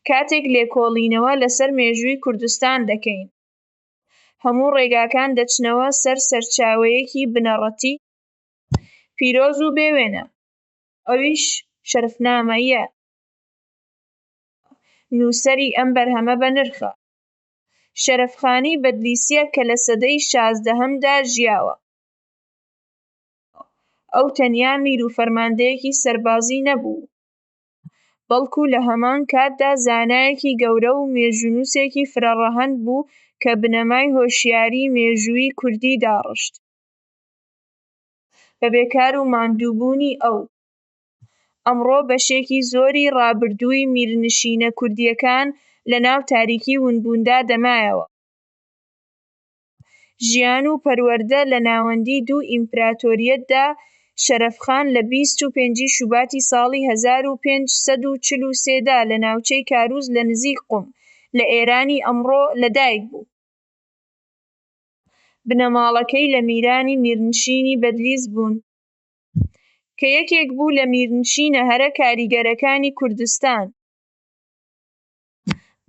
کاتێک لێکۆڵینەوە لەسەر مێژووی کوردستان دەکەین، هەموو ڕێگاکان دەچنەوە سەر سەرچاوەیەکی بنەڕەتی پیرۆز و بێ وێنە، ئەویش شەرەفنامەیە، نووسەری ئەم بەرهەمە بەنرخە، شەرەفخانی بەدلیسییە کە لە سەدەی شازدەهەمدا ژیاوە، ئەو تەنیا میر و فەرماندەیەکی سەربازی نەبوو، بەڵکو لە هەمان کاتدا زانایەکی گەورە و مێژوونووسێکی فرەڕەهەند بوو کە بنەمای هۆشیاریی مێژوویی کوردی داڕشت. بە بێکار و ماندووبوونی ئەو، ئەمڕۆ بەشێکی زۆری ڕابردووی میرنشینە کوردییەکان لەناو تاریکی ونبووندا دەمایەوە. ژیان و پەروەردە لە ناوەندی دوو ئیمپراتۆریەتدا شەرەفخان لە بیست و پێنجی شوباتی ساڵی هەزار و پێنج سەد و چل و سێ دا لە ناوچەی کاروز لە نزیک قوم لە ئێرانی ئەمڕۆ لە دایک بوو. بنەماڵەکەی لە میرانی میرنشینی بەدلیس بوون کە یەکێک بوو لە میرنشینە هەرە کاریگەرەکانی کوردستان.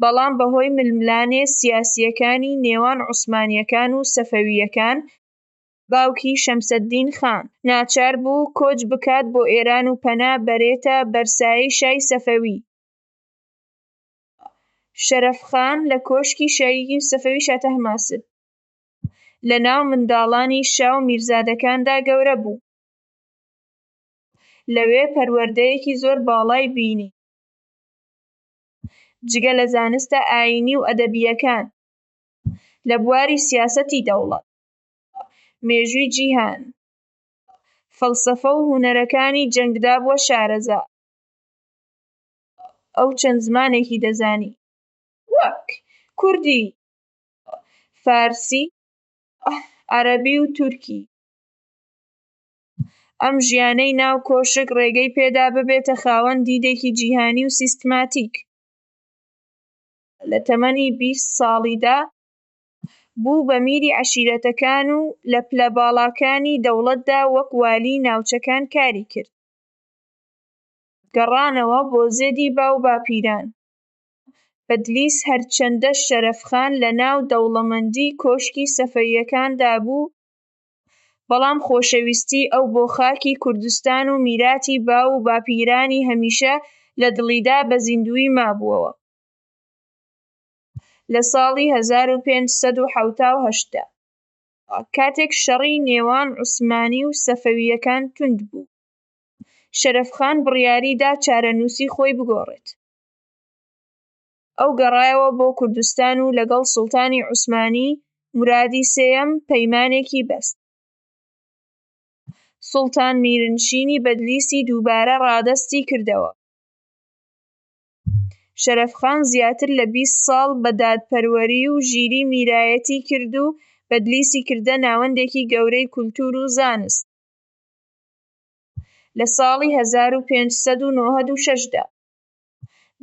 بەڵام بەهۆی ململانێ سیاسییەکانی نێوان عوسمانییەکان و سەفەوییەکان، باوکی شەمسەددین خان، ناچار بوو کۆچ بکات بۆ ئێران و پەنا بەرێتە بەر سایەی شای سەفەوی. شەرەف خان لە کۆشکی شای سەفەوی شاتەهماسب لە ناو منداڵانی شا و میرزادەکاندا گەورە بوو. لەوێ پەروەردەیەکی زۆر باڵای بینی. جگە لە زانستە ئایینی و ئەدەبییەکان، لە بواری سیاسەتی دەوڵەت، مێژووی جیهان، فەلسەفە و هونەرەکانی جەنگدا بووە شارەزا. ئەو چەند زمانێکی دەزانی، وەک، کوردی، فارسی، عەرەبی و تورکی. ئەم ژیانەی ناو کۆشک ڕێگەی پێدا ببێتە خاوەن دیدێکی جیهانی و سیستماتیک. لە تەمەنی بیست ساڵیدا بوو بە میری عەشیرەتەکان و لە پلە باڵاکانی دەوڵەتدا وەک والیی ناوچەکان کاری کرد. گەڕانەوە بۆ زێدی باوباپیران، بەدلیس هەرچەندە شەرەفخان لەناو دەوڵەمەندیی کۆشکی سەفەوییەکاندا بوو، بەڵام خۆشەویستی ئەو بۆ خاکی کوردستان و میراتی باو و باپیرانی هەمیشە لە دڵیدا بە زیندوویی مابووەوە. لە ساڵی هەزار و پێنج سەد و حەوتا و هەشت دا، کاتێک شەڕی نێوان عوسمانی و سەفەوییەکان توند بوو، شەرەفخان بڕیاریدا چارەنووسی خۆی بگۆڕێت. ئەو گەڕایەوە بۆ کوردستان و لەگەڵ سوڵتانی عوسمانی، مورادی سێیەم، پەیمانێکی بەست. سوڵتان میرنشینی بەدلیسی دووبارە ڕادەستی کردەوە. شەرەفخان زیاتر لە بیست ساڵ بە دادپەروەری و ژیری میرایەتی کرد و بەدلیسی کردە ناوەندێکی گەورەی کولتوور و زانست. لە ساڵی هەزار و پێنج سەد و نۆهەد و شەش دا.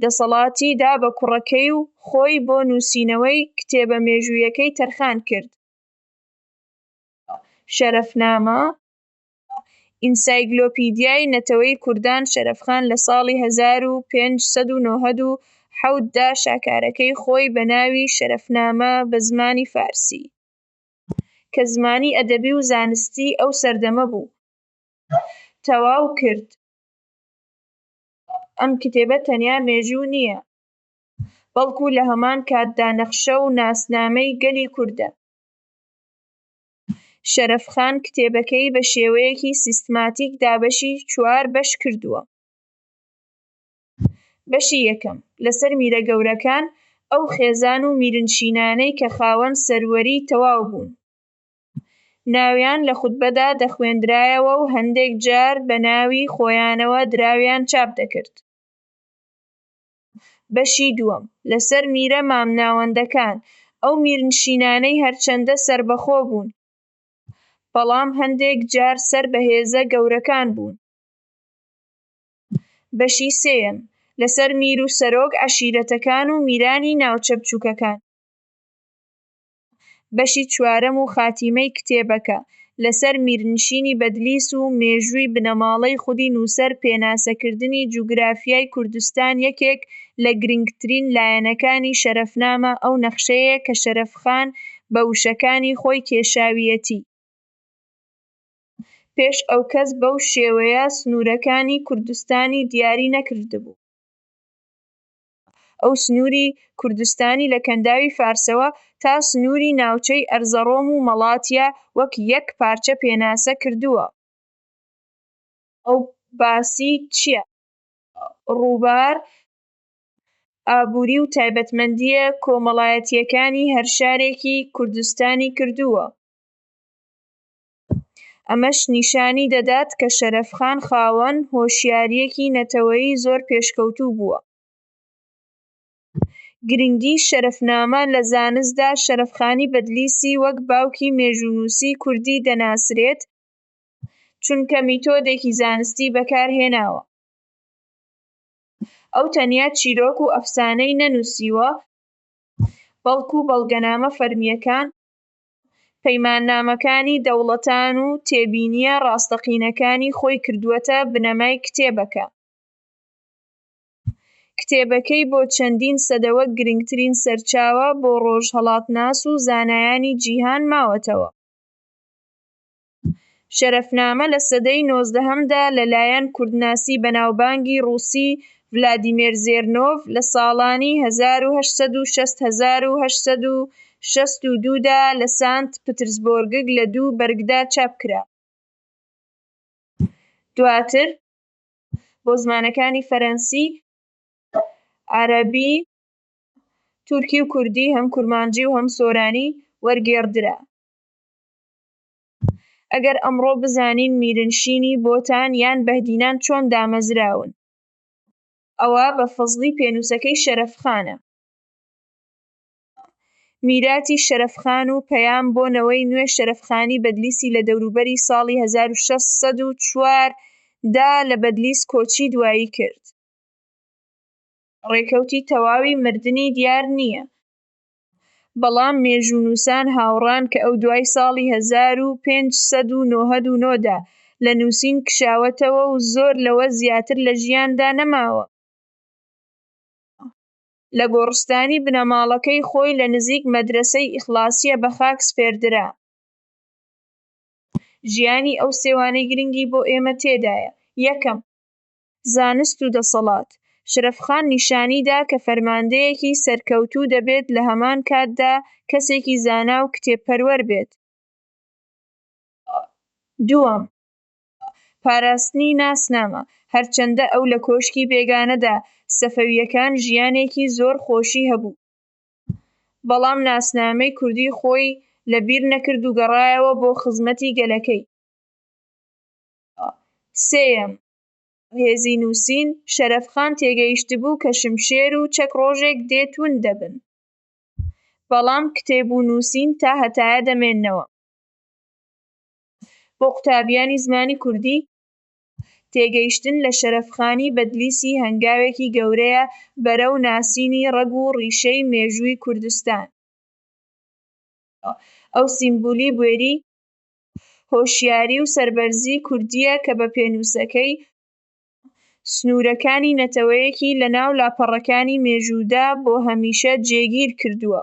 دەسەڵاتی دا بە کوڕەکەی و خۆی بۆ نووسینەوەی کتێبە مێژوویەکەی تەرخان کرد، شەرەفنامە، ئینسایگلۆپیدیای نەتەوەی کوردان شەرەفخان لە ساڵی هەزار و پێنج سەد و نۆهەد و حەوت دا شاکارەکەی خۆی بە ناوی شەرەفنامە بە زمانی فارسی، کە زمانی ئەدەبی و زانستی ئەو سەردەمە بوو، تەواو کرد. ئەم کتێبە تەنیا مێژوو نییە، بەڵکو لە هەمان کاتدا نەخشە و ناسنامەی گەلی کوردە. شەرەفخان کتێبەکەی بە شێوەیەکی سیستماتیک دابەشی چوار بەش کردووە. بەشی یەکەم، لەسەر میرە گەورەکان، ئەو خێزان و میرنشینانەی کە خاوەن سەروەریی تەواو بوون. ناویان لە خوتبەدا دەخوێندرایەوە و هەندێک جار بە ناوی خۆیانەوە دراویان چاپ دەکرد. بەشی دووەم، لەسەر میرە مامناوەندەکان، ئەو میرنشینانەی هەرچەندە سەربەخۆ بوون، بەڵام هەندێک جار سەر بە هێزە گەورەکان بوون. بەشی سێیەم، لەسەر میر و سەرۆک عەشیرەتەکان و میرانی ناوچە بچووکەکان. بەشی چوارەم و خاتیمەی کتێبەکە، لەسەر میرنشینی بەدلیس و مێژووی بنەماڵەی خودی نووسەر پێناسەکردنی جوگرافیای کوردستان یەکێک لە گرنگترین لایەنەکانی شەرەفنامە ئەو نەخشەیەیە کە شەرەفخان بە وشەکانی خۆی کێشاویەتی پێش ئەو کەس بەو شێوەیە سنوورەکانی کوردستانی دیاری نەکردبوو. ئەو سنووری کوردستانی لە کەنداوی فارسەوە تا سنووری ناوچەی ئەرزەڕۆم و مەڵاتیا وەک یەک پارچە پێناسە کردووە. ئەو باسی چییە؟ ڕووبار، ئابووری و تایبەتمەندییە کۆمەڵایەتییەکانی هەر شارێکی کوردستانی کردووە. ئەمەش نیشانی دەدات کە شەرەفخان خاوەن هۆشیارییەکی نەتەوەیی زۆر پێشکەوتوو بووە. گرنگی شەرەفنامە لە زانستدا شەرەفخانی بەدلیسی وەک باوکی مێژوونووسی کوردی دەناسرێت، چونکە میتۆدێکی زانستی بەکارهێناوە. ئەو تەنیا چیرۆک و ئەفسانەی نەنووسیوە، بەڵکو بەڵگەنامە فەرمییەکان، پەیماننامەکانی دەوڵەتان و تێبینییە ڕاستەقینەکانی خۆی کردووەتە بنەمای کتێبەکە. کتێبەکەی بۆ چەندین سەدەوە گرنگترین سەرچاوە بۆ ڕۆژهەڵاتناس و زانایانی جیهان ماوەتەوە. شەرەفنامە لە سەدەی نۆزدەهەمدا لەلایەن کوردناسی بەناوبانگی ڕووسی ڤلادیمێر زێرنۆڤ لە ساڵانی هەزار و هەشت سەد و شەست هەزار و هەشت سەد و شەست و دوو دا لە سانت پترسبۆرگگ لە دوو بەرگدا چاپ کرا. دواتر بۆ زمانەکانی فەرەنسی، عەرەبی، تورکی و کوردی، هەم کورمانجی و هەم سۆرانی، وەرگێڕدرا. ئەگەر ئەمڕۆ بزانین میرنشینی بۆتان یان بەهدینان چۆن دامەزراون ئەوا بە فەزڵی پێنووسەکەی شەرەفخانە. میراتی شەرەفخان و پەیام بۆ نەوەی نوێ شەرەفخانی بەدلیسی لە دەوروبەری ساڵی هەزار و شەش سەد و چوار دا لە بەدلیس کۆچی دوایی کرد. ڕێکەوتی تەواوی مردنی دیار نییە. بەڵام مێژوونووسان هاوڕان کە ئەو دوای ساڵی هەزار و پێنج سەد و نۆهەد و نۆ دا لە نووسین کشاوەتەوە و زۆر لەوە زیاتر لە ژیاندا نەماوە. لە گۆڕستانی بنەماڵەکەی خۆی لە نزیک مەدرەسەی ئیخڵاسیە بە خاک سپێردرا. ژیانی ئەو سێوانەی گرنگی بۆ ئێمە تێدایە، یەکەم، زانست و دەسەڵات، شەرەفخان نیشانی دا کە فەرماندەیەکی سەرکەوتوو دەبێت لە هەمان کاتدا کەسێکی زانا و کتێب پەروەر بێت. دووەم، پاراستنی ناسنامە، هەرچەندە ئەو لە کۆشکی بێگانەدا سەفەوییەکان ژیانێکی زۆر خۆشی هەبوو، بەڵام ناسنامەی کوردی خۆی لە بیر نەکرد و گەڕایەوە بۆ خزمەتی گەلەکەی. سێیەم، هێزی نووسین، شەرەفخان تێگەیشتبوو کە شمشێر و چەک ڕۆژێک دێ تووند دەبن، بەڵام کتێب و نووسین تا هەتایە دەمێننەوە. بۆ قوتابیانی زمانی کوردی، تێگەیشتن لە شەرەفخانی بەدلیسی هەنگاوێکی گەورەیە بەرەو ناسینی ڕەگ و ڕیشەی مێژووی کوردستان. ئەو سیمبولی بوێری هۆشیاری و سەربەرزی کوردییە کە بە پێنووسەکەی سنوورەکانی نەتەوەیەکی لەناو لاپەڕەکانی مێژوودا بۆ هەمیشە جێگیر کردووە.